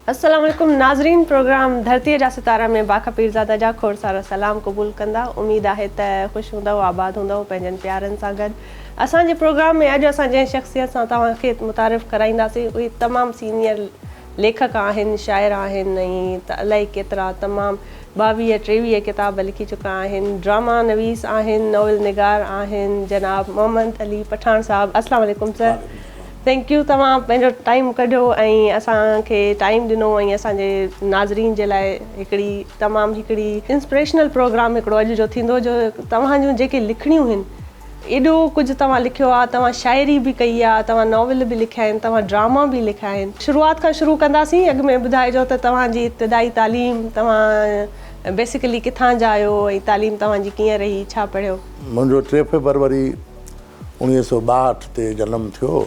السلام عليڪم ناظرين پروگرام ڌرتي جا ستارا ۾ باکا پيرزاده جا کوڙ سارا سلام قبول ڪندا اميد آهي ته خوش هوندؤ آباد هوندؤ پنهنجن پيارن سان گڏ اسان جي پروگرام ۾ اڄ اسان جنهن شخصيت سان توهان کي متعارف ڪرائينداسين اهي تمام سينيئر ليکڪ آهن شاعر آهن ۽ ته الائي ڪيترا تمام ٻاويهه ٽيويهه ڪتاب لکي چڪا آهن، ڊراما نويس آهن، ناول نگار آهن جناب محمد علي پٺاڻ صاحب السلام عليڪم سر ٿينڪ يو توهان پنهنجو ٽائيم ڪڍيو ۽ اسان کي ٽائيم ڏنو ۽ اسان جي ناظرين جي لاء هڪڙي تمام هڪڙي انسپريشنل پروگرام هڪڙو اڄ جو ٿيندو جو توهان جون جيڪي لکڻيون هن ايڏو ڪجهه توهان لکيو آهي، توهان شاعري به ڪئي آهي، توهان ناول به لکيا آهن، توهان ڊراما به لکيا آهن. شروعات کان شروع ڪنداسين، اڳ ۾ ٻڌائجو ته توهان جي ابتدائي تعليم، توهان بيسيڪلي ڪٿان جا آهيو ۽ تعليم توهان جي ڪيئن رهي، ڇا پڙهيو؟ منهنجو ٽي فيبروري اوڻيهه سؤ ٻاهٺ تي جنم ٿيو.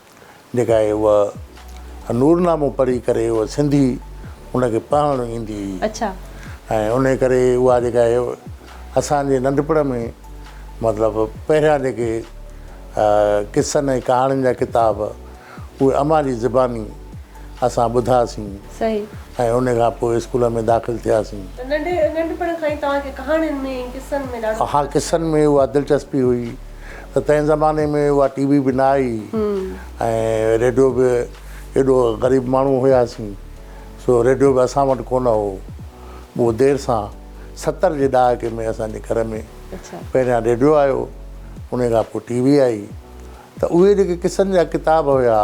جيڪا آهي اها نورنامو پڙهي ڪري اها سنڌي ان کي پڙهڻ ايندي هئي اڇا ۽ انهي ڪري اها جيڪا آهي اسان جي ننڍپڻ ۾ مطلب پهريان جيڪي قصن ۽ ڪهاڻين جا ڪتاب اهي امان جي زباني اسان ٻڌاسين صحيح ۽ ان کان پوء اسڪول ۾ داخل ٿياسين ته ننڍي ننڍپڻ کان ئي توهان کي ڪهاڻين ۾ ۽ قصن ۾ ڏاڍو ها قصن ۾ اها دلچسپي هئي ته تنهن زماني ۾ اها ٽي وي به نه آئي ۽ ريڊيو به ايڏو غريب ماڻهو هياسين سو ريڊيو به اسان وٽ ڪونه هو اهو دير سان ستر جي ڏهاڪي ۾ اسان جي گهر ۾ پهريان ريڊيو آيو ان کان پوء ٽي وي آئي ته اهي جيڪي قصن جا ڪتاب هيا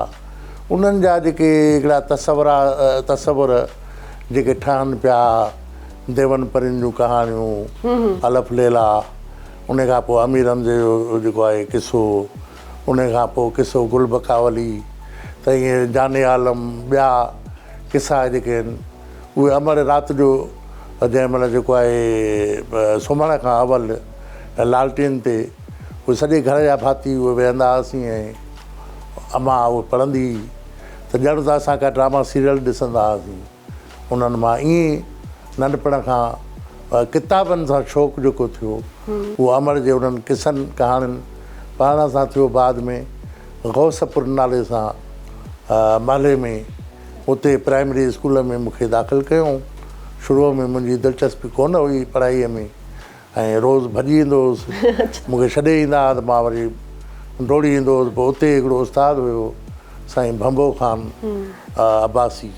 انهن جا جيڪي هڪڙا تصورا تصور جيڪي ٺهن پيا ديون پرين جون ڪهاڻيون الف ليلا ان کان پوء امير حمزي جو جيڪو آهي قصو، ان کان پوء قصو گل بقاولي ته ائين جان عالم ٻيا قصا جيڪي آهن اهي امڙ رات جو جنهن مهل جيڪو آهي سمهڻ کان اول لالٽين تي اهي سڄي گهر جا ڀاتي اهي ويهندا هئاسين ۽ امان اهي پڙهندي هئي ته ڄڻ ته اسان ڪا ڊراما سيريل ڏسندا هئاسين. انهن مان ائين ئي ننڍپڻ کان ڪتابن سان شوق جيڪو ٿيو اهو امڙ جي انهن قصن ڪهاڻين پڙهڻ سان ٿيو بعد ۾ غوث پور نالي سان محلي ۾ اتي پرائمري اسڪول ۾ مون کي داخل ڪيائون شروع ۾ منهنجي دلچسپي ڪونه هئي پڙهائي ۾ ۽ روز ڀڄي ايندو هوس. مون کي ڇڏي ايندا ها ته مان وري ڊوڙي ايندو هوس. پوء اتي هڪڙو استاد هيو سائين ڀنڀو خان عباسي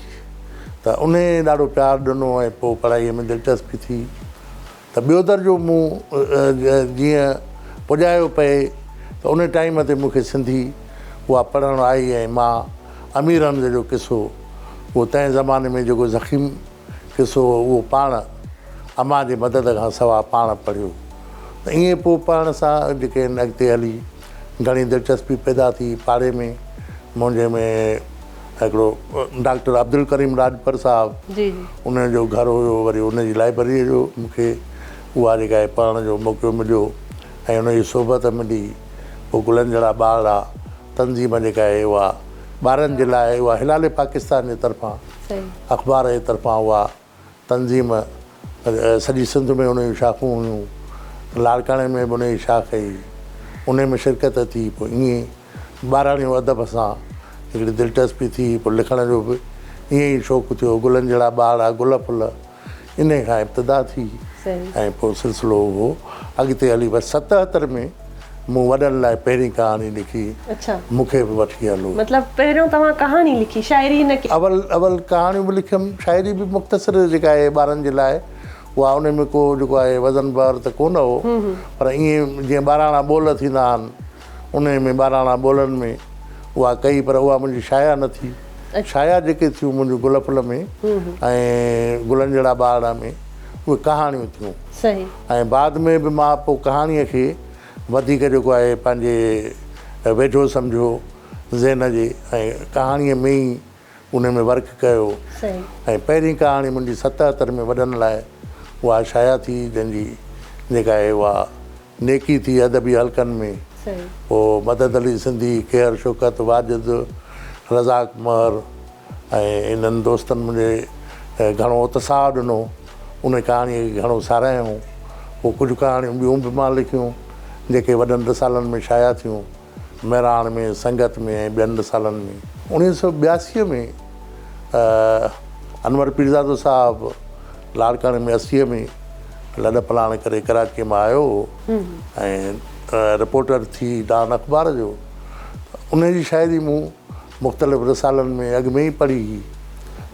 ته انهي ڏاڍو پيار ڏنو ۽ پوء پڙهائي ۾ دلچسپي ٿي ته ٻيو درجو مون جيئن پڄايو پئي ته انهي ٽائيم تي مون کي سنڌي اها پڙهڻ آئي ۽ مان امير حمزه جو قصو اهو تنهن زماني ۾ جيڪو ضخيم قصو هو اهو پاڻ امان جي مدد کان سواء پاڻ پڙهيو ته ائين پوء پڙهڻ سان جي ڪي نه اڳتي هلي گهڻي دلچسپي پيدا ٿي پاڙي ۾ منهنجي ۾ هڪڙو ڊاڪٽر عبدالڪريم راڄپر صاحب جي جي. ان جو گهر هيو وري ان جي لائبرريء جو مون کي اها جي ڪا پڙهڻ جو موقعو مليو ۽ ان جي صحبت ملي پوء گلن جهڙا ٻارڙا تنظيم جيڪا آهي اها ٻارن جي لاء آهي اها هلال پاڪستان جي طرفان اخبار جي طرفان اها تنظيم سڄي سنڌ ۾ ان جون شاخون هيون لاڙڪاڻي ۾ به ان جي شاخ هئي ان ۾ شرڪت ٿي پوء ائين ٻاراڻيو ادب سان هڪڙي دلچسپي ٿي پوء لکڻ جو به ائين ئي شوق ٿيو گلن جهڙا ٻارڙا گل ڦل انهيء کان ابتدا ٿي ۽ پوء سلسلو اهو اڳتي هلي بس ستهتر ۾ مون وڏن لاء پهرين ڪهاڻي لکي مون کي به وٺي هلو. مطلب پهريون توهان ڪهاڻي لکي شاعري نه ڪئي؟ اول اول ڪهاڻيون به لکيم شاعري به مختصر جيڪا آهي ٻارن جي لاء اها ان ۾ ڪو جيڪو آهي وزن بار ته ڪونه هو پر ائين جيئن ٻاراڻا ٻول ٿيندا آهن. انهيء ۾ ٻاراڻا ٻولن ۾ اها ڪئي پر اها منهنجي شايعا نه ٿي. شايعا جيڪي ٿيون منهنجي گل ڦل ۾ ۽ گلن جهڙا ٻارڙا ۾ اهي ڪهاڻيون ٿيون ۽ بعد ۾ به مان پوء ڪهاڻيء کي وڌيڪ جيڪو آهي پنهنجي ويجهو سمجهيو ذهن جي ۽ ڪهاڻيء ۾ ئي انهيء ۾ ورڪ ڪيو ۽ پهرين ڪهاڻي منهنجي ستهتر ۾ وڏن لاء اها شايع ٿي جنهن جي جيڪا آهي اها نيڪي ٿي ادبي حلقن ۾ پوء مدد علي سنڌي، قهر شوڪت، واجد، رزاق مهر ۽ انهن دوستن منهنجي گهڻو اتساهه ڏنو. انهي ڪهاڻيء کي گهڻو ساراهيائون. پوء ڪجهه ڪهاڻيون ٻيون به مان لکيون، جيڪي وڏن رسالن ۾ شايع ٿيون. مهراڻ ۾ سنگت ۾ ۽ ٻين رسالن ۾ اڻيهه سؤ ٻياسي ۾ انور پيرزادو صاحب لاڙڪاڻي ۾ اسيء ۾ لڏ پلاڻ ڪري ڪراچيء مان آيو هو ۽ رپورٽر ٿي ڊان اخبار جو ان جي شاعري مون مختلف رسالن ۾ اڳ ۾ ئي پڙهي هئي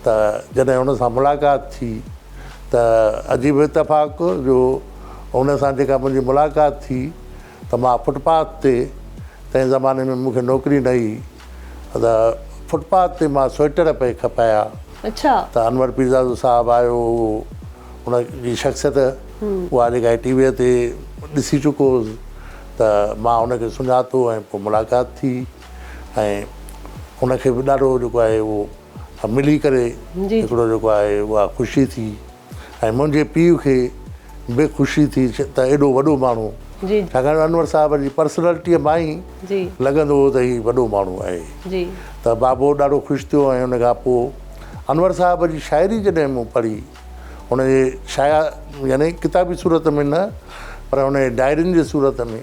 ته جڏهن هن سان ملاقات ٿي ته عجيب اتفاق جو هن سان جيڪا منهنجي ملاقات ٿي ته مان فٽ پاٿ تي تنهن زماني ۾ مون کي نوڪري نه هئي ته فٽ پاٿ تي مان سوئٽر پئي کپايا اڇا ته انور پيرزادو صاحب آيو هو ان جي شخصيت اها جيڪا ٽي ويء تي ڏسي چڪو هوس ته مان ان کي سڃاتو ۽ پوء ملاقات ٿي ۽ ان کي به ڏاڍو جيڪو آهي اهو ملي ڪري هڪڙو جيڪو آهي اها خوشي ٿي ۽ منهنجي پيء کي به خوشي ٿي ته ايڏو وڏو ماڻهو ڇاڪاڻ ته انور صاحب جي پرسنالٽيء مان ئي لڳندو هو ته هي وڏو ماڻهو آهي ته بابو ڏاڍو خوش ٿيو ۽ ان کان پوء انور صاحب جي شاعري جڏهن مون پڙهي ان جي شايع يعني ڪتابي صورت ۾ نه پر ان جي ڊائرين جي صورت ۾.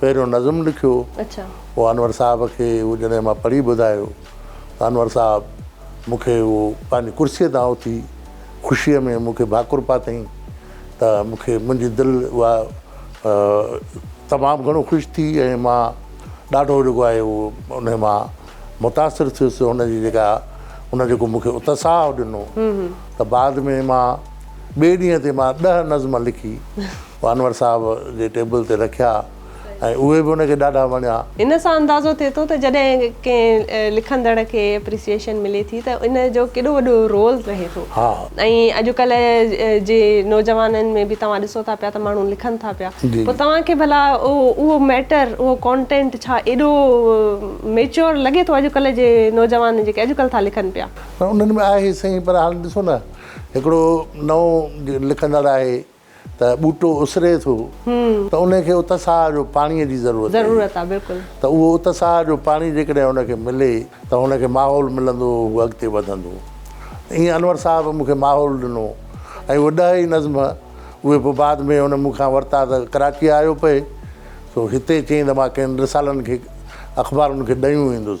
پهريون نظم لکيو هو انور صاحب کي اهو جڏهن مان پڙهي ٻڌايو ته انور صاحب مون کي اهو پنهنجي ڪرسيء تان اٿي خوشيء ۾ مون کي ڀاڪر پاتئين ته مون کي منهنجي دل اها تمام گهڻو خوش ٿي ۽ مان ڏاڍو جيڪو آهي اهو ان مان متاثر ٿيس هن جي جيڪا هن جيڪو مون کي اتساهه ڏنو ته بعد ۾ مان ٻئي ڏينهن تي مان ڏهه نظم لکي وانور صاحب جي ٽيبل تي رکيا ۽ اهي به ان کي ڏاڍا وڻيا. ان سان اندازو ٿئي ٿو ته جڏهن ڪنهن لکندڙ کي اپريسيئيشن ملي ٿي ته ان جو ڪيڏو وڏو رول رهي ٿو ۽ اڄڪلهه جي نوجوانن ۾ به توهان ڏسو ٿا پيا ته ماڻهو لکن ٿا پيا پوء توهان کي ڀلا اهو ميٽر اهو ڪانٽينٽ ڇا ايڏو ميچيور لڳي ٿو اڄڪلهه جي نوجوان جيڪي اڄڪلهه ٿا لکن پيا. انهن ۾ آهي سهي پر هاڻ ڏسو نه هڪڙو نئون لکندڙ آهي ته ٻوٽو اسري ٿو ته ان کي اتساهه جو پاڻيء جي ضرورت ضرورت آهي بلڪل ته اهو اتساهه جو پاڻي جيڪڏهن ان کي ملي ته ان کي ماحول ملندو هو اڳتي وڌندو ائين انور صاحب مون کي ماحول ڏنو ۽ اهي ڏهه ئي نظم اهي پوء بعد ۾ هن مون کان ورتا ته ڪراچيء آيو پئي سو هتي چيائين ته مان ڪن رسالن کي اخبارن کي ڏيون ويندس.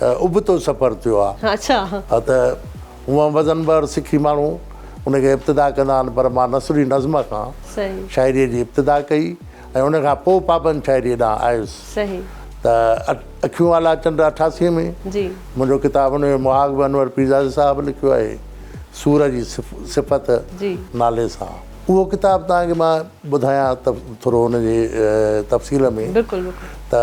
ابتو سفر ٿيو آ ته هونئن وزن بحر سکي ماڻهو ان کي ابتدا ڪندا آهن پر مان نثري نظم کان شاعري جي ابتدا ڪئي ۽ ان کان پوء پابند شاعري ڏانهن آيس ته اکيون آلا چنڊ اٺاسي ۾ منهنجو ڪتاب ان جو مهاڳ به انور پيرزادي صاحب لکيو آهي سور جي صفت نالي سان اهو ڪتاب تان کي مان ٻڌايان ته ٿورو ان جي تفصيل ۾ ته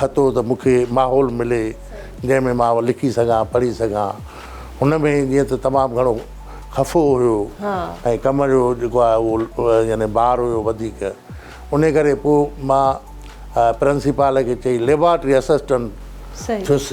کتو ته مون کي ماحول ملي جنهن ۾ مان لکي سگهان پڙهي سگهان هن ۾ جيئن ته تمام گهڻو خفو هيو ۽ ڪم جو جيڪو آهي اهو يعني بار هيو وڌيڪ ان ڪري پوء مان پرنسيپال کي چئي ليبارٽري اسسٽنٽ ٿيس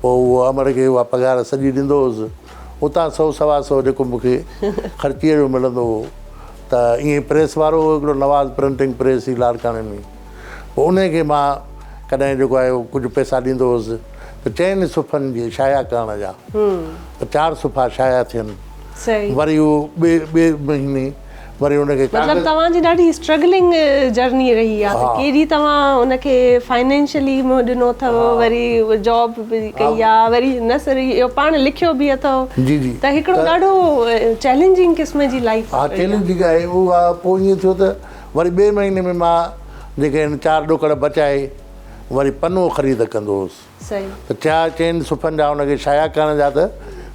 پوء اهو امڙ کي اها پگهار سڄي ڏيندو هوس. اتان سؤ سوا سؤ جيڪو مون کي خرچيء جو ملندو هو ته ائين پريس وارو هو هڪڙو نواز پرنٽنگ پريس ئي لاڙڪاڻي ۾، پوء انهيء کي مان ڪڏهن جيڪو آهي اهو ڪجهه پئسا ڏيندو هوس ته چئن صفحن جي شايع ڪرڻ جا ته چار صفحا شايع ٿين. وري اهو ٻئي ٻئي مهيني. وري ان کي مطلب توهان جي ڏاڍي اسٽرگلنگ جرني رهي آهي ته ڪيڏي توهان ان کي فائنينشلي منهن ڏنو اٿو وري جاب به ڪئي آهي وري نه صرف اهو پاڻ لکيو به اٿو ته هڪڙو ڏاڍو چئلينجنگ قسم جي لائيف آهي ها چئلينجنگ آهي اها پوء ائين ٿيو ته وري ٻئي مهيني ۾ مان جيڪي آهن چار ڏوڪڙ بچائي وري پنو خريد ڪندو هوس ته ٿيا چئن صفحن جا ان کي شايع ڪرڻ جا ته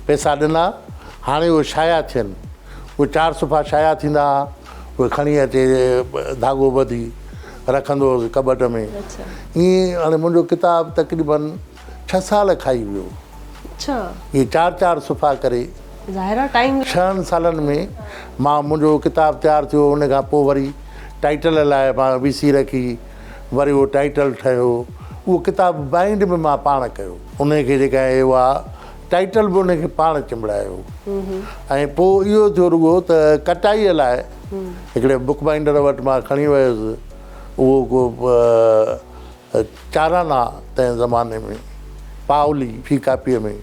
پئسا ڏنا هاڻي اهي شايع ٿين اهي چار صفحا شايع ٿيندا ها اهي کڻي اچي ڌاڳو ٻڌي رکندو هوس ڪٻٽ ۾ ائين هاڻي منهنجو ڪتاب تقريبن ڇهه سال کائي ويو ائين چار چار صفحا ڪري ڇهن سالن ۾ مان منهنجو ڪتاب تيار ٿيو ان کان پوء وري ٽائيٽل لاء مان وي سي رکي وري اهو ٽائيٽل ٺهيو. اهو ڪتاب بائينڊ به مان پاڻ ڪيو. انهيء کي جيڪا اهو آ ٽائيٽل به انهيء کي پاڻ چنبڙايو. ۽ پوء اهو ٿيو رڳو ته ڪٽائيء لاء هڪڙي بوڪ بائينڊر وٽ مان کڻي ويس. اهو ڪو چارانا تنهن زماني ۾ پائولي في ڪاپيء ۾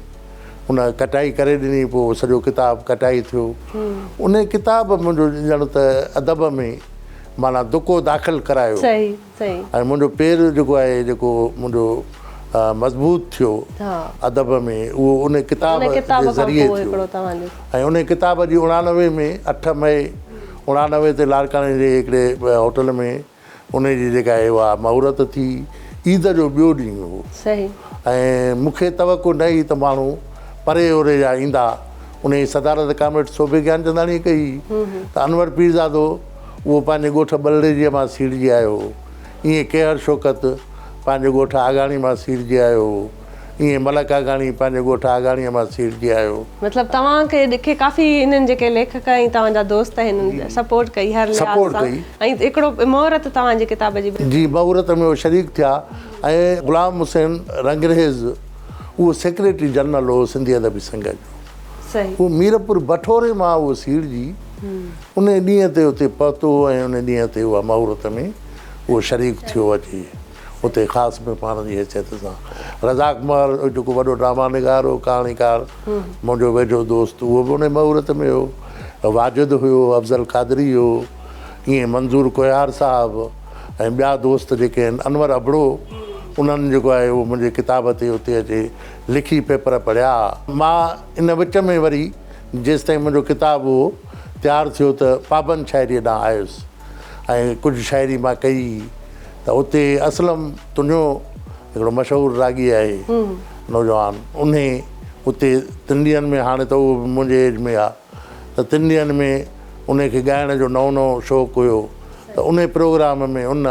ان ڪٽائي ڪري ڏني. پوء سڄو ڪتاب ڪٽائي ٿيو. انهيء ڪتاب منهنجو ڄڻ ته ادب ۾ معنيٰ دڪو داخل ڪرايو ۽ منهنجو پير جيڪو آهي جيڪو منهنجو مضبوط ٿيو ادب ۾ اهو ان ڪتاب جي ذريعي ٿيو ۽ ان ڪتاب جي اڻانوي ۾ اٺ مئي اڻانوي تي لاڙڪاڻي جي هڪڙي هوٽل ۾ ان جي جيڪا آهي اها مهورت ٿي عيد جو ٻيو ڏينهن هو ۽ مون کي توقع نه هئي ته ماڻهو پري اوري جا ايندا ان جي صدارت ڪامريڊ صوڀي گيانچنداڻيء ڪئي ته انور پيرزادو اهو پنهنجي ڳوٺ ٻلڙيجيء مان سيڙجي آيو هو، ايئن ڪيهر شوڪت پنهنجي ڳوٺ آگاڻي مان سيڙجي آيو هو، ايئن ملڪ آگاڻي پنهنجي ڳوٺ آگاڻيء مان سيڙجي آيو هو. مطلب توهان کي ڏکي ڪافي هنن جيڪي ليکڪ ۽ توهان جا دوست هنن سپورٽ ڪئي هر لحاظ سان سپورٽ ڪئي. ۽ هڪڙو مهورت توهان جي ڪتاب جي به. جي مهورت ۾ هو شريڪ ٿيا ۽ غلام حسين رنگريز اهو سيڪريٽري جنرل هو سنڌي ادبي سنگهه جو. هو ميرپور بٺوري مان اهو سيڙجي انهيء ڏينهن تي اتي پهتو هو ۽ انهيء ڏينهن تي اها مهورت ۾ اهو شريڪ ٿيو اچي اتي خاص ۾ پاڻ جي حيثيت سان. رزاق مهر جيڪو وڏو ڊراما نگار هو، ڪهاڻيڪار، منهنجو ويجهو دوست، اهو به انهيء مهورت ۾ هو. واجد هيو، افضل قادري هيو، ائين منظور ڪوهيار صاحب ۽ ٻيا دوست جيڪي آهن، انور ابڙو، انهن جيڪو آهي اهو منهنجي ڪتاب تي اتي اچي لکي پيپر پڙهيا. مان ان وچ ۾ وري جيستائين منهنجو ڪتاب اهو تيار ٿيو ته پابند شاعريء ڏانهن آيس ۽ ڪجهه شاعري مان ڪئي ته اتي اسلم تنهو هڪڙو مشهور راڳي آهي نوجوان انهي اتي تنڊين ۾ هاڻي ته اهو به منهنجي ايج ۾ آهي ته تن ڏينهن ۾ انهي کي ڳائڻ جو نئون نئون شوق هيو ته انهي پروگرام ۾ هن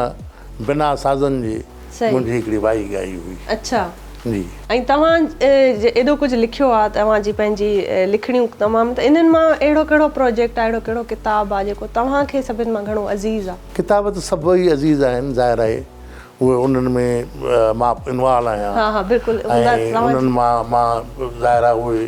بنا سازن جي منهنجي هڪڙي وائي ڳائي هئي. اڇا جي. ۽ توهان ايڏو ڪجهه لکيو آ توهان جي پنهنجي لکڻيون تمام ته انهن مان اهڙو ڪهڙو پروجيڪٽ آ اهڙو ڪهڙو ڪتاب آ جيڪو توهان کي سڀن مان گهڻو عزيز آ. ڪتاب ته سڀئي عزيز آهن ظاهر آهي اهي انهن ۾ مان انوالو آهيان ۽ انهن مان مان ظاهر آ اهي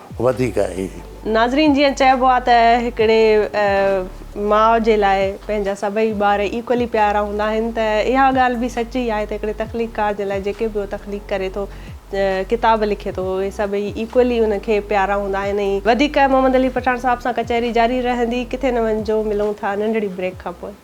وڌيڪ آهي. ناظرين جيئن چئبو آ ته هڪڙي ماء جي لاء پنهنجا سڀئي ٻار ايڪولي پيارا هوندا آهن ته اها ڳالهه به سچي آهي ته هڪڙي تخليقڪار جي لاء جيڪي به هو تخليق ڪري ٿو ڪتاب لکي ٿو اهي سڀئي ايڪولي ان کي پيارا هوندا آهن ۽ وڌيڪ محمد علي پٺاڻ صاحب سان ڪچهري جاري رهندي ڪٿي نه وڃجو ملون ٿا ننڍڙي بريڪ کان پوء.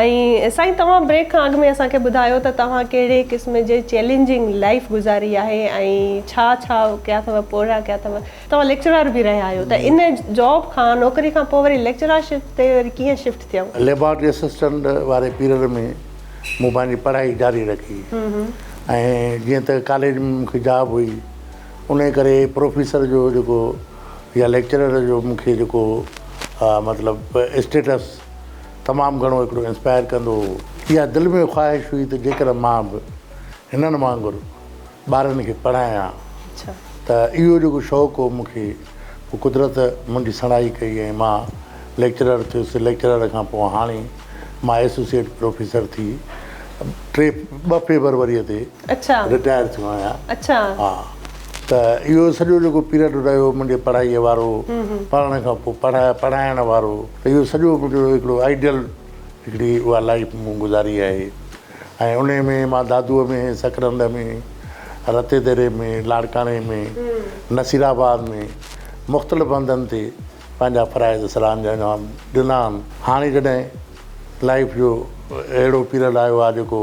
۽ سائين توهان بريڪ کان اڳ ۾ اسان کي ٻڌايو ته توهان ڪهڙي قسم جي چئلينجنگ لائيف گذاري آهي ۽ ڇا ڇا ڪيا اٿو پورهيا ڪيا اٿو توهان ليڪچرار به رهيا آهيو ته ان جاب کان نوڪري کان پوء وري ليڪچرار شپ تي وري ڪيئن شفٽ ٿيو. ليبارٽري اسسٽنٽ واري پيريڊ ۾ مون پنهنجي پڙهائي جاري رکي ۽ جيئن ته ڪاليج ۾ مون کي جاب هئي انهي ڪري پروفيسر جو جيڪو يا ليڪچرر جو مون کي جيڪو مطلب اسٽيٽس تمام گهڻو هڪڙو انسپائر ڪندو هو. اها دل ۾ خواهش هئي ته جيڪڏهن مان به هنن وانگر ٻارن کي پڙهايان ته اهو جيڪو شوق هو مون کي پوء قدرت منهنجي سڻائي ڪئي ۽ مان ليڪچرر ٿيس ليڪچرر کان پوء هاڻي مان ايسوسيئيٽ پروفيسر ٿي ٽي ٻه فيبروريء تي اچھا رٽائر ٿيو آهيان اچھا ها ته اهو سڄو جيڪو پيريڊ رهيو منهنجي پڙهائي وارو پڙهڻ کان پوء پڙهائي پڙهائڻ وارو ته اهو سڄو منهنجو هڪڙو آئيڊيل هڪڙي اها لائيف مون گذاري آهي ۽ انهي ۾ مان دادوء ۾ سڪرنڊ ۾ رتي ديري ۾ لاڙڪاڻي ۾ نصير آباد ۾ مختلف هنڌن تي پنهنجا فرائض سر انجام ڏنا آهن هاڻي جڏهن لائيف جو اهڙو پيريڊ آيو آهي جيڪو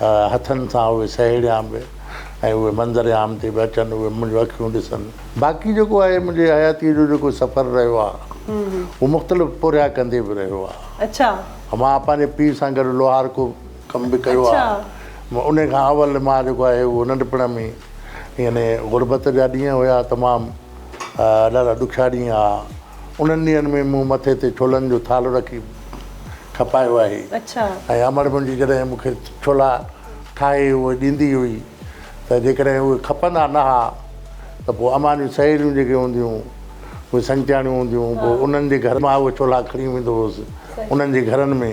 هٿن سان اهي سهيڙيان به ۽ اهي منظر عام تي به اچن، اهي منهنجون اکيون ڏسن. باقي جيڪو آهي منهنجي حياتيء جو جيڪو سفر رهيو آهي، اهو مختلف پورهيا ڪندي به رهيو آهي. مان پنهنجي پيء سان گڏ لوهار ڪو ڪم به ڪيو آهي. انهيء کان اول مان جيڪو آهي اهو ننڍپڻ ۾ ئي يعني غربت جا ڏينهن هيا تمام. ڏاڍا ڏکيا ڏينهن آ انهن ڏينهن ۾ مون مٿي تي ڇولن جو ٿالهو رکي کپايو آهي ۽ امڙ منهنجي جڏهن مون کي ڇولا ٺاهي اهي ڏيندي هئي ته جيڪڏهن اهي کپندا نه ها ته پوء امان جون سهيليون جيڪي هونديون اهي سنگتياڻيون هونديون پوء انهن جي گهر مان اهي ڇولا کڻي ويندو هوس انهن جي گهرن ۾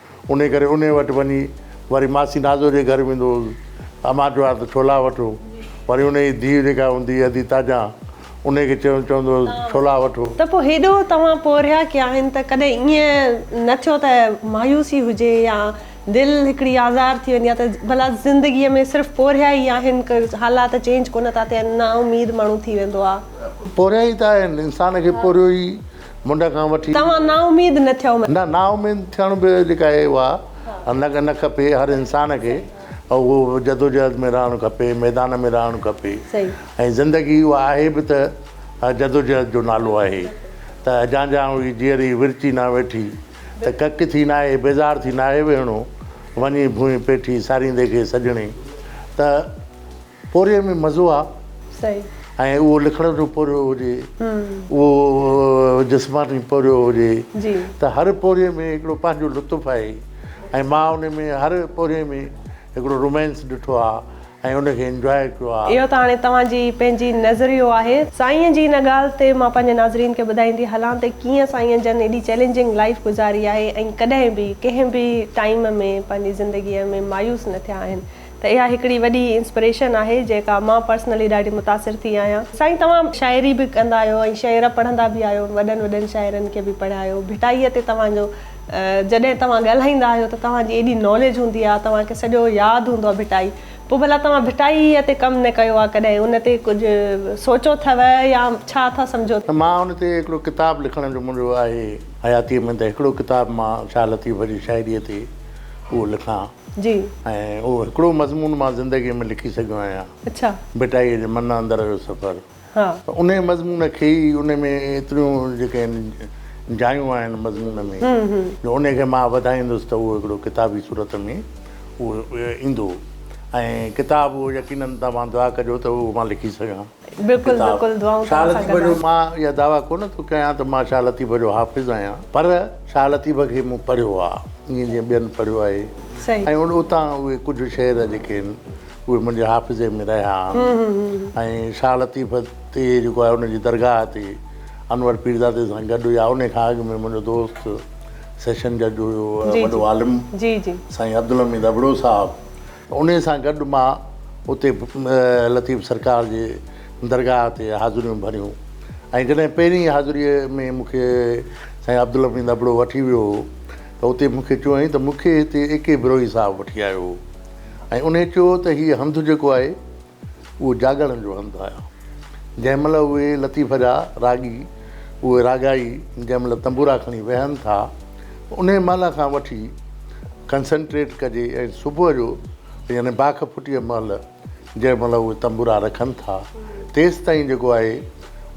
انهيء ڪري انهيء وٽ وڃي وري ماسي نازو جي گهر ويندو هوس. امان چوار ته ڇولا وٺو. وري انهيء جي ڌيء جيڪا هوندي هئي ادي تاجان، انهيء کي چوندو چوندو هوس ته ڇولا وٺو. ته پوء هيڏو توهان پورهيا ڪيا آهن ته ڪڏهن ائين نه ٿيو ته مايوسي هجي يا دل هڪڙي آزار ٿي وڃي يا ته ڀلا زندگيء ۾ صرف پورهيا ئي آهن ڪي حالات چينج ڪونه ٿا ٿين نا اميد ماڻهو ٿي ويندو آ. پورهيا ئي ته آهن، انسان کي پورهيو ئي منڍ کان وٺي. توهان نااميد نه ٿيو. نه نااميد ٿيڻ به جيڪا اهي اها نه نه کپي هر انسان کي اهو جدوجهد ۾ رهڻ کپي ميدان ۾ رهڻ کپي ۽ زندگي اها آهي به ته جدوجهد جو نالو آهي ته اجان جان هئي جيئري ورچي نه ويٺي ته ڪڪ ٿي ناهي بيزار ٿي ناهي ويهڻو وڃي ڀونء پيٺي ساريندي کي سڄڻي ته پورهيي ۾ مزو آ صحيح. ۽ اهو لکڻ جو پورهيو هجي اهو جسماني پورهيو هجي جي. ته هر پورهيي ۾ هڪڙو پنهنجو لطف آهي ۽ مان ان ۾ هر پورهيي ۾ هڪڙو رومانس ڏٺو آ ۽ ان کي انجواء ڪيو آ. اهو ته هاڻي توهان جي پنهنجي نظريو آهي. سائينء جي ان ڳالهه تي مان پنهنجي ناظرين کي ٻڌائيندي هلان ته ڪيئن سائينء جن ايڏي چئلينجنگ لائيف گذاري آهي ۽ ڪڏهن به ڪنهن به ٽائيم ۾ پنهنجي زندگيء ۾ مايوس نه ٿيا آهن ته اها هڪڙي وڏي انسپريشن آهي جيڪا مان پرسنلي ڏاڍي متاثر ٿي آهيان. سائين توهان شاعري به ڪندا آهيو ۽ شعر پڙهندا به آهيو وڏن وڏن شاعرن کي به پڙهيا آهيو ڀٽائي تي توهان جو جڏهن توهان ڳالهائيندا آهيو ته توهان جي ايڏي ناليج هوندي آهي توهان کي سڄو ياد هوندو آهي ڀٽائي پوء ڀلا توهان ڀٽائي تي ڪم نه ڪيو آهي ڪڏهن ان تي ڪجهه سوچيو اٿئو يا ڇا اٿا سمجهو ته مان ان تي هڪڙو ڪتاب لکڻ جو منهنجو آهي حياتي ۾ ته هڪڙو ڪتاب مان شاهه لطيف جي شاعري تي اهو لکان. جي. ۽ اهو هڪڙو مضمون مان زندگيء ۾ لکي سگهيو آهيان. اڇا. ڀٽائيء جي من اندر جو سفر. ها. ته انهيء مضمون کي ئي انهي ۾ ايتريون جيڪي آهن جايون آهن مضمون ۾ جو انهي کي مان وڌائيندس ته اهو هڪڙو ڪتابي صورت ۾ اهو ايندو ۽ ڪتاب اهو يقينن توهان دعا ڪجو ته اهو مان لکي سگهان. بلڪل بلڪل دعائون توهان سان گڏ آهن. مان اها دعويٰ ڪونه ٿو ڪيان ته مان شاهه لطيف جو حافظ آهيان پر شاهه لطيف کي مون پڙهيو آ ائين جيئن ٻين پڙهيو آهي ۽ اتان اهي ڪجهه شعر جيڪي آهن اهي منهنجي حافظي ۾ رهيا آهن ۽ شاهه لطيف تي جيڪو آهي ان جي درگاهه تي انور پيرزادي سان گڏ يا انهي کان اڳ ۾ منهنجو دوست سيشن جج هيو وڏو عالم سائين عبدالحميد ابڙو صاحب انهيء سان گڏ مان اتي لطيف سرڪار جي درگاهه تي حاضريون ڀريون ۽ جڏهن پهرين حاضريء ۾ مون کي سائين عبدالحميد ابڙو وٺي ويو هو ته اتي مون کي چيائين ته مون کي هتي اي ڪي بروهي صاحب وٺي آيو هو ۽ انهيء چيو ته هيء هنڌ جيڪو آهي اهو جاڳڻ جو هنڌ آهي. جنهن مهل اهي لطيف جا راڳي، اهي راڳائي جنهن مهل تنبورا کڻي ويهن ٿا، انهي مهل کان وٺي ڪنسنٽريٽ ڪجي ۽ صبح جو يعني باک ڦٽيء مهل جنهن مهل اهي تنبورا رکن ٿا، تيستائين جيڪو آهي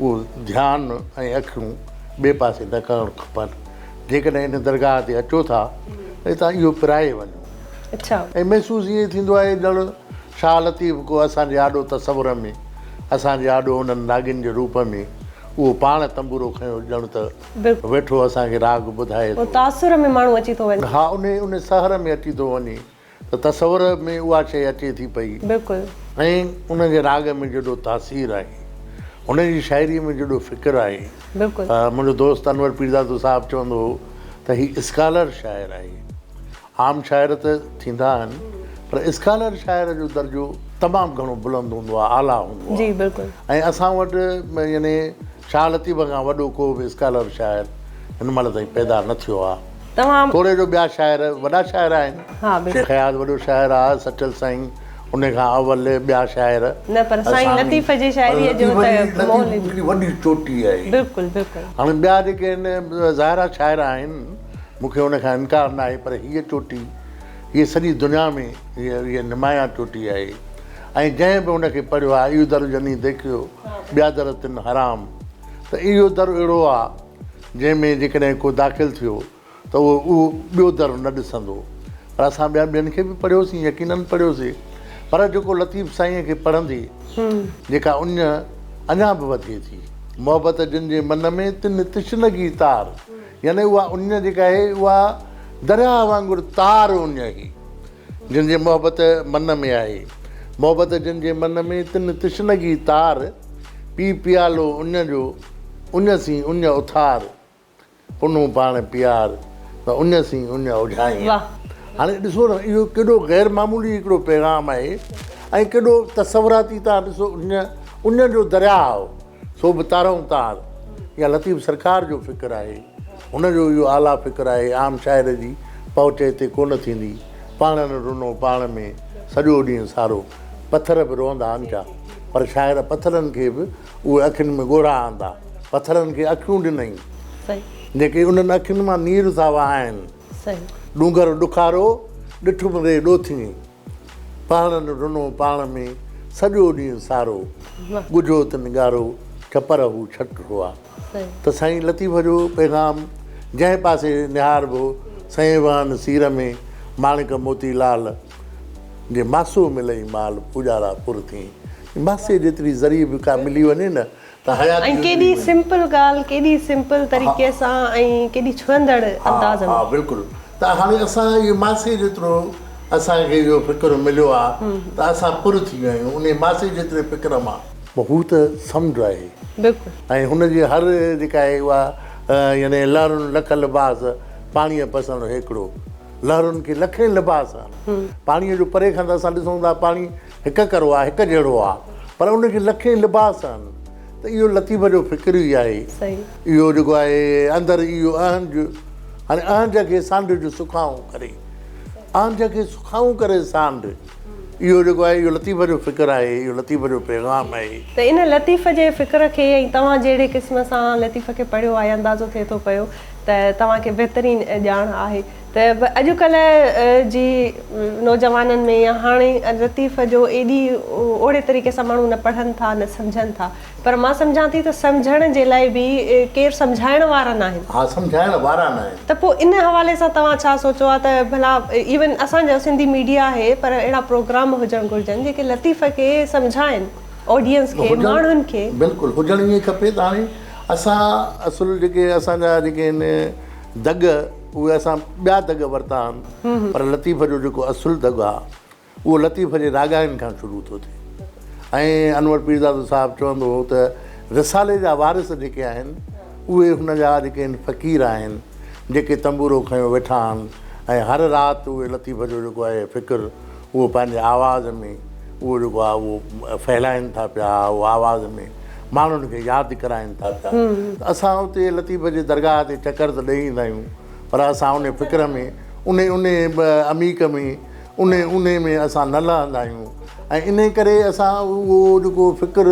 اهو ڌيان ۽ اکيون ٻئي پاسي نه ڪرڻ کپن. جيڪڏهن ان درگاهه تي اچو ٿا ته هتان اهو پرائي وڃو. ۽ محسوس ائين ٿيندو آهي ڄڻ. شاهه لطيف گو اسان جي آڏو تصور ۾، اسان جي آڏو انهن راڳين جي روپ ۾، اهو پاڻ تنبورو کنيو ڄڻ ته ويٺو اسان کي راڳ ٻڌائي ٿو. تاثر ۾ ماڻهو اچي ٿو وڃي. ها انهي انهي سحر ۾ اچي ٿو وڃي ته تصور ۾ اها شيء اچي ٿي پئي. بلڪل. ۽ ان جي راڳ ۾ جيڏو تاثير آهي، هن جي شاعريء ۾ جيڏو فڪر آهي. بلڪل. منهنجو دوست انور پيرزادو صاحب چوندو هو ته هي اسڪالر شاعر آهي. عام شاعر ته ٿيندا آهن پر اسڪالر شاعر جو درجو تمام گهڻو بلند هوندو آهي، اعليٰ هوندو آهي ۽ اسان وٽ يعني شاهه لطيف کان وڏو ڪو به اسڪالر شاعر هن مهل تائين پيدا نه ٿيو آهي. توڙي جو ٻيا شاعر وڏا شاعر آهن، شيخ اياز وڏو شاعر آهي، سچل سائين ان کان اول، ٻيا شاعر. نه پر سائين لطيف جي شاعريء جو ته مهل هڪڙي وڏي چوٽي آهي. هاڻي ٻيا جيڪي آهن ظاهر آهي شاعر آهن. مون کي ان کان انڪار ناهي پر هيء چوٽي، هيء سڄي دنيا ۾ هيء نمايان چوٽي آهي ۽ جنهن به ان کي پڙهيو آهي ايو در جني ديکيو ٻيا در تن حرام ته اهو در اهڙو آهي جنهن ۾ جيڪڏهن ڪو داخل ٿيو ته اهو اهو ٻيو در نه ڏسندو پر اسان ٻيا ٻين کي به پڙهيوسين يقينن پڙهيوسي پر جيڪو لطيف سائينء کي پڙهندي جيڪا اڃ اڃا به وڌي ٿي. محبت جن جي من ۾، تن تشنگي تار. يعني اها اڃ جيڪا هي، اها درياهه وانگر تار اڃ هي، جن جي محبت من ۾ آهي. محبت جن جي من ۾، تن تشنگي تار، پي پيالو اڃ جو، اڃ سين اڃ اٿار، پنهون پاڻ پيار، ته اڃ سين اڃ اجهائين. هاڻي ڏسو نه، اهو ڪيڏو غير معمولي هڪڙو پيغام آهي ۽ ڪيڏو تصوراتي، تان ڏسو اڃ، اڃ جو درياهه، سو به تارئون تار. اها لطيف سرڪار جو فڪر آهي. هن جو اهو اعليٰ فڪر آهي، عام شاعر جي پهچ هتي ڪونه ٿيندي. پاڻ نه رنو پاڻ ۾ سڄو ڏينهن سارو. پٿر به روئندا آهن ڇا؟ پر شاعر پٿرن کي به اهي اکين ۾ ڳوڙها آندا. پٿرن کي اکيون ڏنائين. جيڪي انهن اکين مان نير ٿا وهائن. ڏونگر ڏکارو، ڏٺم ري ڏوٿينء. پهاڙن رنو پاڻ ۾، سڄو ڏينهن سارو، ڳجهو تن ڳارو، ڇپر هو ڇٽ هئا. ته سائين لطيف جو پيغام جنهن پاسي نهاربو، سئين وهن سير ۾، ماڻڪ موتي لال، جي ماسو ملئي مال، پوڄارا پر ٿئين. ماسي جيتري ذري به ڪا ملي وڃي نه، ۽ ڪيڏي سمپل ڳالهه ڪيڏي سمپل طريقي سان ۽ ڪيڏي ڇهندڙ انداز ۾. ها بلڪل ته هاڻي اسان اهي ماسي جيترو اسان کي اهو فڪر مليو آ ته اسان پر ٿي ويا آهيون انهي ماسي جيتري فڪر مان. هو ته سمنڊ آهي بلڪل. ۽ هن جي هر جيڪا آهي اها يعني لهرن لک لباس پاڻيء پسڻ هيڪڙو لهرن کي لکين لباس آهن پاڻيء جو پري کان ته اسان ڏسون ٿا پاڻي هڪ ڪرو آ هڪ جهڙو آ پر ان کي لکين لباس آهن ته اهو لطيف جو فڪر ئي آهي اهو جيڪو آهي اندر اهو اهنج هاڻي اهنج کي سانڍ جو سکائون ڪري اهنج کي سکائون ڪري سانڍ اهو جيڪو آهي اهو لطيف جو فڪر آهي اهو لطيف جو پيغام آهي ته ان لطيف جي فڪر کي ۽ توهان جهڙي قسم سان لطيف کي پڙهيو آهي اندازو ٿئي ٿو پيو ته توهان کي بهترين ڄاڻ آهي ته به اڄ ڪلهه جي نوجوانن ۾ يا هاڻي لطيف جو ايڏي اوڙي طريقي سان ماڻهو نه پڙهن ٿا نه سمجهن ٿا پر مان سمجهان ٿي ته سمجهڻ جي لاء به ڪير سمجهائڻ وارا ناهن. ها سمجهائڻ وارا ناهن. ته پوء ان حوالي سان توهان ڇا سوچو آ ته ڀلا ايون اسان جو سنڌي ميڊيا آهي پر اهڙا پروگرام هجڻ گهرجن جيڪي لطيف کي سمجهائن آڊينس کي ماڻهن کي. بلڪل هجڻ ائين کپي ته هاڻي اسان اصل جيڪي اسان جا جيڪي آهن دڳ. اهي اسان ٻيا دڳ ورتا آهن پر لطيف جو جيڪو اصل دڳ آهي اهو لطيف جي راڳاين کان شروع ٿو ٿئي ۽ انور پيرزادو صاحب چوندو هو ته رسالي جا وارث جيڪي آهن اهي هن جا جيڪي آهن فقير آهن جيڪي تنبورو کنيو ويٺا آهن ۽ هر رات اهي لطيف جو جيڪو آهي فڪر اهو پنهنجي آواز ۾ اهو جيڪو آهي اهو ڦهلائين ٿا پيا اهو آواز ۾ ماڻهن کي ياد ڪرائين ٿا پيا ته اسان اتي لطيف جي درگاهه تي چڪر ته ڏئي ايندا آهيون پر اسان ان فڪر ۾ ان ان عميق ۾ ان ان ۾ اسان نه لهندا آهيون ۽ ان ڪري اسان اهو جيڪو فڪر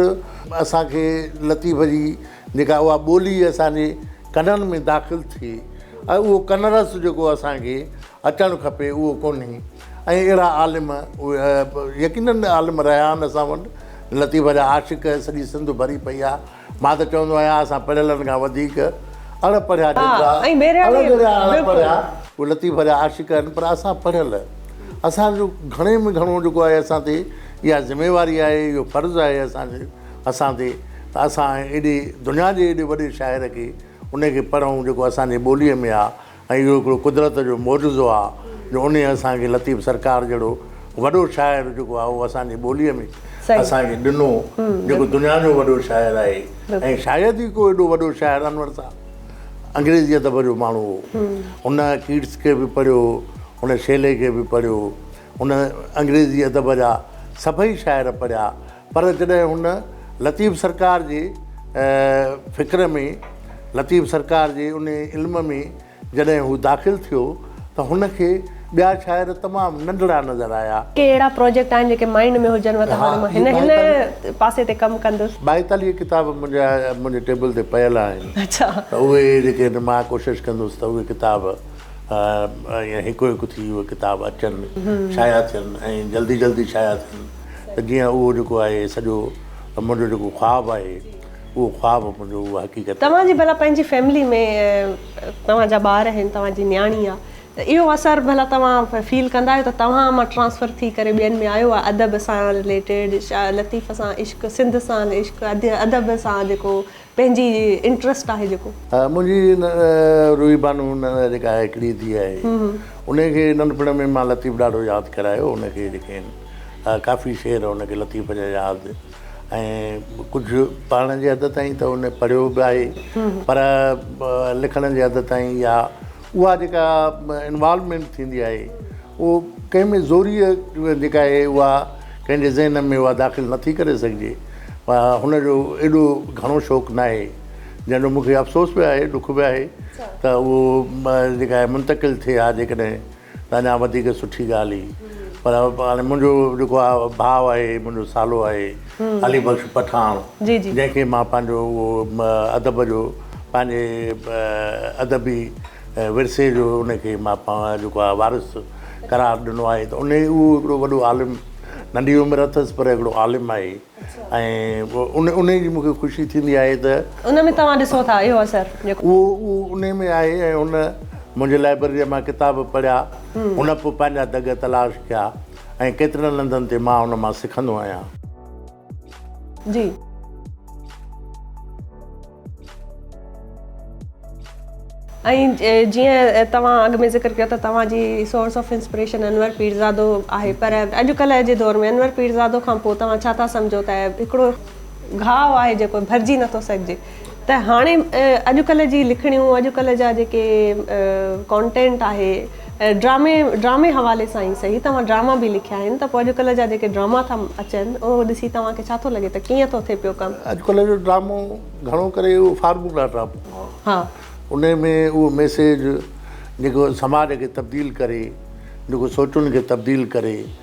اسانکي لطيف جي جيڪا اها ٻولي اسانجي ڪنن ۾ داخل ٿئي ۽ اهو ڪن رس جيڪو اسانکي اچڻ کپي اهو ڪونهي ۽ اهڙا عالم يقينن عالم رهيا آهن اسان وٽ لطيف جا عاشق سڄي سنڌ ڀري پئي آهي مان ته چوندو آهيان اسان پڙهيلن کان وڌيڪ اڻ پڙهيا جيترا اڻ جهڙيا اڻ پڙهيا اهي لطيف جا عاشق آهن پر اسان پڙهيل اسان جو گهڻي ۾ گهڻو جيڪو آهي اسان تي اها ذميواري آهي اهو فرض آهي اسان جي اسان تي ته اسان ايڏي دنيا جي ايڏي وڏي شاعر کي ان کي پڙهون جيڪو اسان جي ٻولي ۾ آهي ۽ اهو هڪڙو قدرت جو معجزو آ جو انهيء اسان کي لطيف سرڪار جهڙو وڏو شاعر جيڪو آ اهو اسان جي ٻوليء ۾ اسان کي ڏنو جيڪو دنيا جو وڏو شاعر آهي ۽ شايد ئي ڪو ايڏو وڏو شاعر انور صاحب انگريزي ادب جو ماڻهو هو هن ڪيٽس کي به پڙهيو هن شيلي کي به پڙهيو هن انگريزي ادب جا سڀئي شاعر پڙهيا پر جڏهن هن لطيف سرڪار جي فڪر ۾، لطيف سرڪار جي انهي علم ۾ جڏهن هو داخل ٿيو ته هن کي ٻيا شاعر تمام ننڍڙا نظر آيا. ڪي اهڙا پروجيڪٽ آهن جيڪي مائنڊ ۾ هجنو ته هاڻي مان هن هن پاسي تي ڪم ڪندس. ٻائيتاليهه ڪتاب منهنجا منهنجي ٽيبل تي پيل آهن ته اهي جيڪي آهن مان ڪوشش ڪندس ته اهي ڪتاب ائين هڪ هڪ ٿي اهي ڪتاب اچن شايع ٿين ۽ جلدي جلدي شايع ٿين. ته جيئن اهو جيڪو آهي سڄو منهنجو جيڪو خواب آهي اهو خواب منهنجو اهو حقيقت توهان جي ڀلا پنهنجي فيملي ۾ توهان جا ٻار آهن توهان جي نياڻي آهي ته اهو اثر ڀلا توهان فيل ڪندا آهيو ته توهان مان ٽرانسفر ٿي ڪري ٻين ۾ آيو آهي ادب سان رليٽيڊ شاعر لطيف سان عشق سنڌ سان عشق ادب سان جيڪو پنهنجي انٽرسٽ آهي جيڪو. منهنجي روحي بانو جيڪا آهي هڪڙي ئي ڌيء آهي ان کي ننڍپڻ ۾ مان لطيف ڏاڍو ياد ڪرايو ان کي جيڪي آهن ڪافي شعر ان کي لطيف جا ياد ۽ ڪجهه پڙهڻ جي حد تائين ته ان پڙهيو به آهي پر لکڻ جي حد تائين يا اها جيڪا انوالومينٽ ٿيندي آهي اهو ڪنهن ۾ زوريء جيڪا اهي اها ڪنهن جي ذهن ۾ اها داخل نه ٿي ڪري سگهجي پر هن جو ايڏو گهڻو شوق ناهي جنهن جو مون کي افسوس به آهي ڏک به آهي ته اهو جيڪا آهي منتقل ٿئي ها جيڪڏهن ته اڃا وڌيڪ سٺي ڳالهه هئي پر هاڻي منهنجو جيڪو آهي ڀاء آهي منهنجو سالو آهي علي بخش پٺاڻ جنهن کي مان پنهنجو اهو ادب جو پنهنجي ادبي ورثي جو ان کي مان پاڻ جيڪو آهي وارث قرار ڏنو آهي ته ان اهو هڪڙو وڏو عالم ننڍي عمر اٿس پر هڪڙو عالم آهي ۽ ان ان جي مون کي خوشي ٿيندي آهي ته ان ۾ توهان ڏسو ٿا اهو اثر جيڪو اهو اهو ان ۾ آهي ۽ هن منهنجي لائبرريء مان ڪتاب پڙهيا هن پوء پنهنجا دڳ تلاش ڪيا ۽ ڪيترن هنڌن تي مان هن مان سکندو آهيان. جي. ۽ جيئن توهان اڳ ۾ ذڪر ڪيو ته توهان جي source of inspiration Anwar Pirzado آهي پر اڄڪلهه جي دور ۾ انور پيرزادو کان پوء توهان ڇا ٿا سمجهو ته هڪڙو گهاء آهي جيڪو ڀرجي نٿو سگهجي. ته هاڻي اڄ ڪلهه جي لکڻيون اڄ ڪلهه جا جيڪي ڪانٽينٽ آهي ڊرامي ڊرامي حوالي سان ئي سهي توهان ڊراما به لکيا آهن ته پوء اڄ ڪلهه جا جيڪي ڊراما ٿا اچن اهو ڏسي توهان کي ڇا ٿو لڳي ته ڪيئن ٿو ٿئي پيو ڪم. اڄ ڪلهه جو ڊرامو گهڻو ڪري اهو فارمولا ڊرامو ها انهي ۾ اهو ميسيج جيڪو سماج کي تبديل ڪري جيڪو سوچن کي تبديل ڪري.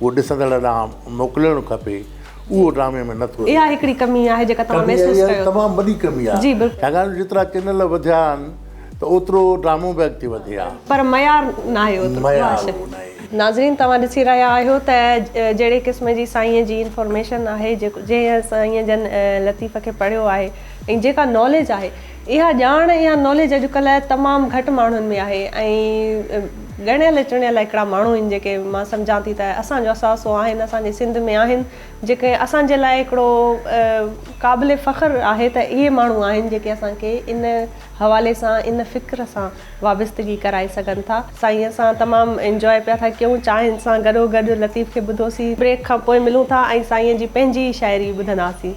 اهو ڏسندڙ ڏانهن موڪلڻ کپي اهو ڊرامي ۾ نه ٿو اچي. اها هڪڙي ڪمي آهي جيڪا توهان ڪمي محسوس اها ڪيو ٿو. تمام وڏي ڪمي آهي جي بلڪل. ڇاڪاڻ جيترا چينل وڌيا آهن ته اوترو ڊرامو به اڳتي وڌي آ. پر معيار ناهي اوترو. معيار اها شيء. اهو ناهي. ناظرين توهان ڏسي رهيا آهيو ته جهڙي قسم جي سائينء جي انفارميشن آهي جنهن سائين جن لطيف کي پڙهيو آهي ۽ جيڪا ناليج آهي. اها ڄاڻ يا ناليج اڄڪلهه تمام گهٽ ماڻهن ۾ آهي ۽ ڳڻيل چڻيل هڪڙا ماڻهو آهن جيڪي مان سمجهان ٿي ته اسان جو اثاثو آهن اسان جي سنڌ ۾ آهن جيڪي اسان جي لاء هڪڙو قابل فخر آهي ته اهي ماڻهو آهن جيڪي اسان کي ان حوالي سان ان فڪر سان وابستگي ڪرائي سگهن ٿا. سائين اسان تمام انجواء پيا ٿا ڪيون چانهن سان گڏو گڏ لطيف کي ٻڌوسين. بريڪ کان پوء ملون ٿا ۽ سائين جي پنهنجي ئي شاعري ٻڌنداسين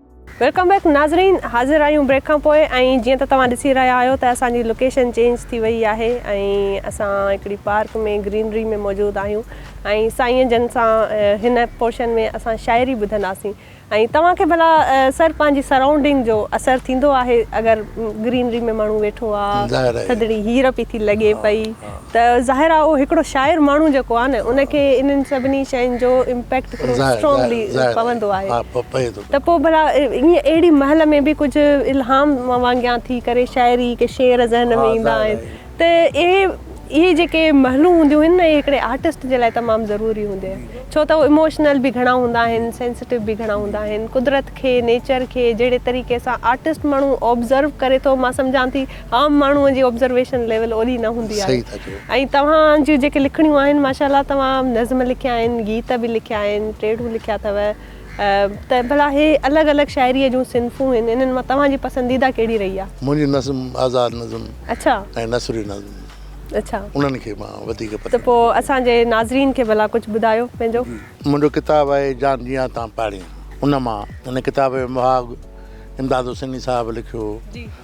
ويلڪم بيڪ ناظرين حاضر آهيون بريڪ کان پوء ۽ جيئن ته توهان ڏسي رهيا آهيو ته اسان جي لوڪيشن چينج ٿي وئي آهي ۽ اسان هڪڙي پارڪ ۾ گرينري ۾ موجود آهيون ۽ سائين جن سان هن پورشن ۾ اسان شاعري ٻڌنداسين ۽ توهان کي ڀلا سر پنهنجي سرائونڊنگ جو اثر ٿيندو آهي اگر گرينري ۾ ماڻهو ويٺو آهي ٿڌڙي هير پئي ٿي لڳي پئي ته ظاهر آ هو هڪڙو شاعر ماڻهو جيڪو آ نه ان کي انهن سڀني شين جو امپيڪٽ هڪڙو اسٽرونگلي پوندو آهي ته پو ڀلا ائين اهڙي مهل ۾ به ڪجهه الهام وانگيان ٿي ڪري شاعري ڪي شعر ذهن ۾ ايندا آهن ته اهي اهي جيڪي مهلون هونديون آهن نه اهي هڪڙي آرٽسٽ جي لاء تمام ضروري هوندي آهن ڇو ته هو اموشنل به گهڻا هوندا آهن سينسٽو به گهڻا هوندا آهن قدرت کي نيچر کي جهڙي طريقي سان آرٽسٽ ماڻهو آبزرو ڪري ٿو مان سمجهان ٿي عام ماڻهو جي آبزرويشن ليول اوڏي نه هوندي آهي صحيح ٿا چئو. ۽ توهان جون جيڪي لکڻيون آهن ماشاء الله توهان نظم لکيا آهن گيت به لکيا آهن ٽيڙون لکيا اٿو ته ڀلا هي الڳ الڳ شاعري جون صنفون هن انهن مان توهان جي پسنديده ڪهڙي رهي آهي. منهنجي نظم آزاد نظم اڇا. ۽ نثري نظم اڇا. انهن کي مان وڌيڪ پسند ته پو اسان جي ناظرين کي ڀلا ڪجهه ٻڌايو پنهنجو. جي منهنجو ڪتاب آهي جان جيان تان پاڙين ان مان هن ڪتاب جو مهاڳ امداد حسيني صاحب لکيو هو. جي.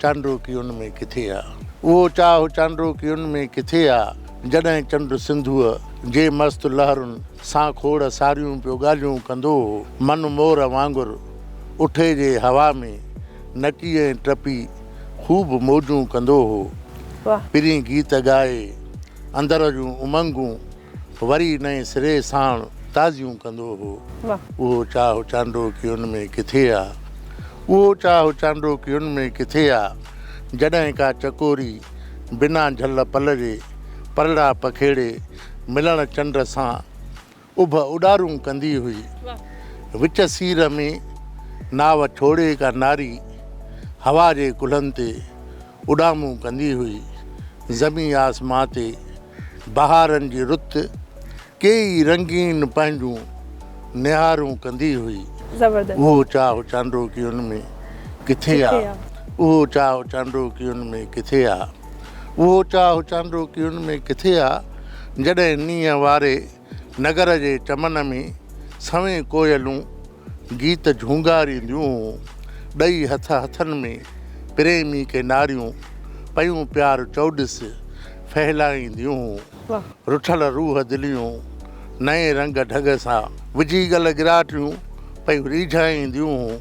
چانڊو ڪي ان ۾ ڪٿي آ. اهو چاهه چانڊو ڪي ان ۾ ڪٿي آ. جڏهن چنڊ سنڌوء جي مست لهرن سان کوڙ ساريون پيو ڳالهيون ڪندو هو. من مور وانگر اٺي جي هوا ۾ نچي ۽ ٽپي خوب موجون ڪندو هو. پرين گيت ڳائي اندر جون امنگون وري نئين سري ساڻ تازيون ڪندو هو. اهو چاهه چانڊو ڪيون ۾ ڪٿي آ. اهو چاهه چانڊو ڪيون ۾ ڪٿي آ. جڏهن ڪا چڪوري بنا جهل پل جي پرڙا پکيڙي ملڻ چنڊ سان اڀ اڏارون ڪندي هئي. وچ سير ۾ ناء ڇوڙي ڪا ناري هوا جي ڪلهن تي اڏامون ڪندي هئي. زمين آسمان تي بهارن جي رت ڪي ئي رنگين پنهنجون نهارون ڪندي هئي. زبردست. اهو چاهه چانڊو ڪيون ۾ ڪٿي آ. اهو چاهه چانڊو ڪيون ۾ ڪٿي آ. اهو چاهه چانڊو ڪيون ۾ ڪٿي آ جڏهن نينهن واري. نگر جي چمن ۾، سوين ڪوئلون گيت جهونگارينديون، ڏئي هٿ هٿن ۾ پريمي کي ناريون، پيون پيار چؤڏس ڦهلائينديون. رٺل روح دليون، نئين رنگ ڍڳ سان، وجهي ڳل ڳراٽيون، پيون ريجهائينديون،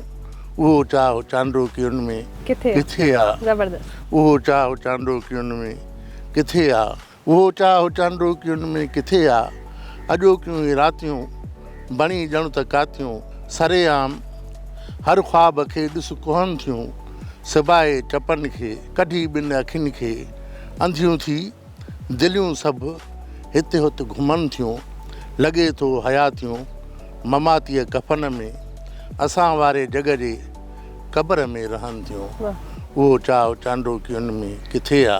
اهو چاهه چانڊوڪين ۾ ڪٿي آ، اهو چاهه چانڊوڪين ۾ ڪٿي آ. اهو چاهه هو چانڊوڪين ۾ ڪٿي آ. اڄوڪيون هي راتيون، بڻي ڄڻ ته ڪاتيون. سري عام هر خواب کي ڏس ڪوهن ٿيون. سبائي چپن کي، ڪڍي ٻن اکين کي. انڌيون ٿي، دليون سڀ هت هت گهمن ٿيون. لڳي ٿو حياتيون، مماتيء ڪفن ۾. اسان واري جڳ جي، قبر ۾ رهن ٿيون. اهو چاهه هو چانڊوڪين ۾ ڪٿي آ.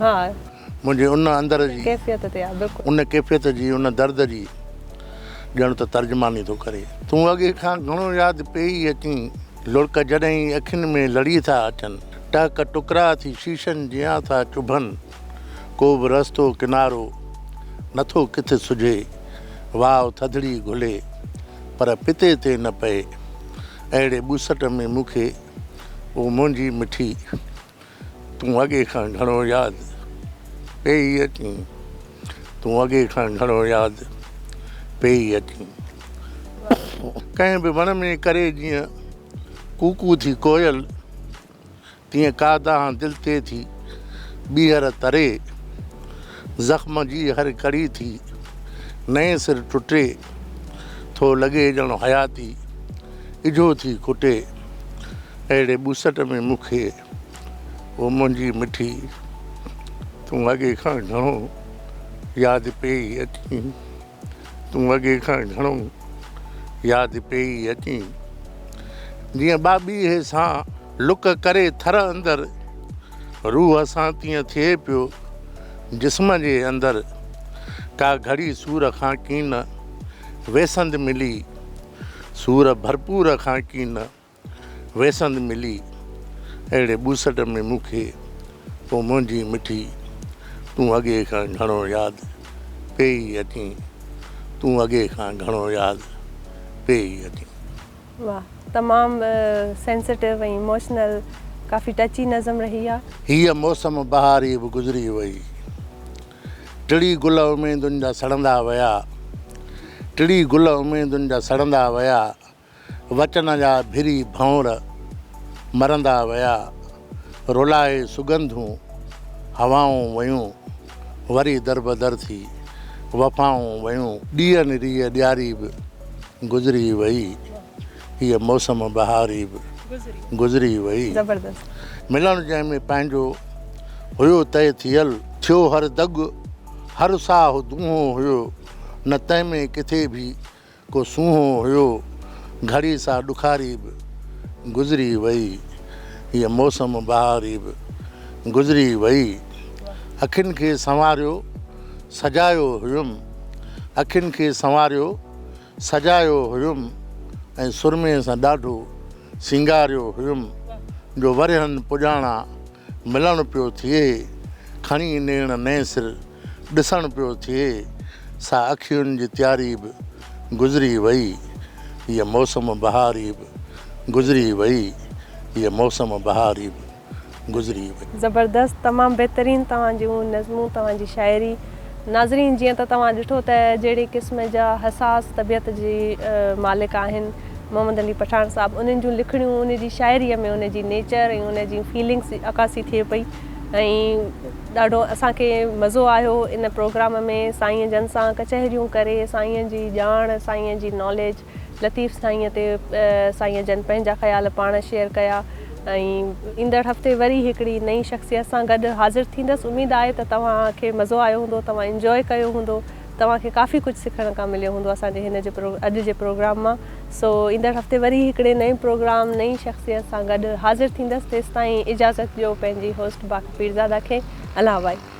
ها. منهنجي ان اندر جي. ڪيفيت تي آ بلڪل. ان ڪيفيت جي ان درد جي ڄڻ ته ترجماني ٿو ڪري. تون اڳي کان گهڻو ياد پيئي اچين. لڙڪ جڏهن ئي اکين ۾ لڙي ٿا اچن. ٽهڪ ٽڪرا ٿي شيشن جيان ٿا چڀن. ڪو به رستو ڪنارو نٿو ڪٿ سجهي. واء ٿڌڙي گهلي پر پتي تي نه پئي. اهڙي ٻوسٽ ۾ مون کي او منهنجي مٺي. تون اڳي کان گهڻو ياد پيئي اچين تون اڳي کان گهڻو ياد پيئي اچين ڪنهن به وڻ ۾ ڪري جيئن ڪوڪو ٿي ڪوئل تيئن ڪا دانهن دل تي ٿي ٻيهر تري زخم جي هر ڪڙي ٿي نئين سر ٽٽي ٿو لڳي ڄڻ حياتي اجهو ٿي کٽي اهڙي ٻوسٽ ۾ مون کي او منهنجي مٺي تون اڳي کان گهڻو ياد پيئي اچين تون اڳي کان گهڻو ياد پيئي اچين جيئن ٻاٻيهي سان لڪ ڪري ٿر اندر روح سان تيئن ٿئي پيو جسم جي اندر ڪا گهڙي سور کان ڪين ويسند ملي سور ڀرپور کان ڪين ويسند ملي اهڙي ٻوسٽ ۾ مون کي پوء منهنجي مٺي تون اڳي کان گهڻو ياد پيئي اچين تون اڳي کان گهڻو ياد پيئي اچين. واھ تمام سينسٽو ۽ اموشنل ڪافي ٽچي نظم رهي آ. هيء موسم بهاري به گذري وئي، ٽڙي گل اميدن جا سڙندا ويا، ٽڙي گل اميدن جا سڙندا ويا، وچن جا ڀري ڀنور مرندا ويا، رولائي سڳنڌون هوائون ويون، وري دربدر ٿي وفائون ويون. ڏيئي نريء ڏياري به گذري وئي، هيء موسم بهاري به گذري وئي. ملڻ جنهن ۾ پنهنجو هيو طئي ٿيل. ٿيو هر دڳ هر ساهه دونهون هيو، نه تنهن ۾ ڪٿي به ڪو سونهون هيو گهڙي سا ڏکاري به گذري وئي هيء موسم بهاري به گذري وئي اکين کي سنواريو سجايو هيم اکين کي سنواريو سجايو هيم ۽ سرمي سان ڏاڍو سينگاريو هيم جو ورهين پڄاڻان ملڻ پيو ٿئي، کڻي نيڻ نئين سر ڏسڻ پيو ٿئي، سا اکيون جي تياري به گذري وئي، هيء موسم بهاري به گذري وئي، هيء موسم بهاري به گذري وئي. زبردست تمام بهترين توهان جون نظمون توهان جي شاعري. ناظرين جيئن ته توهان ڏٺو ته جهڙي قسم جا حساس طبيعت جي مالڪ آهن محمد علي پٺاڻ صاحب انهن جون لکڻيون انهن جي شاعري ۾ انهن جي نيچر ۽ انهن جي فيلنگس جي عڪاسي ٿئي پئي ۽ ڏاڍو اسان کي مزو آيو ان پروگرام ۾ سائين جن سان ڪچهريون ڪري سائين جي ڄاڻ سائين جي ناليج لطيف سائينء تي سائين جن پنهنجا خيال پاڻ شيئر ڪيا ۽ ايندڙ هفتي وري هڪڙي نئين شخصيت سان گڏ حاضر ٿيندس اميد آهي ته توهان کي مزو آيو هوندو توهان انجوائي ڪيو هوندو توهان کي ڪافي ڪجهه سکڻ ڪا مليو هوندو اسان جي هن جي اڄ جي پروگرام مان سو ايندڙ هفتي وري هڪڙي نئين پروگرام نئين شخصيت سان گڏ حاضر ٿيندس تيستائين اجازت ڏيو پنهنجي هوسٽ باکپيرزاده کي الله وائي.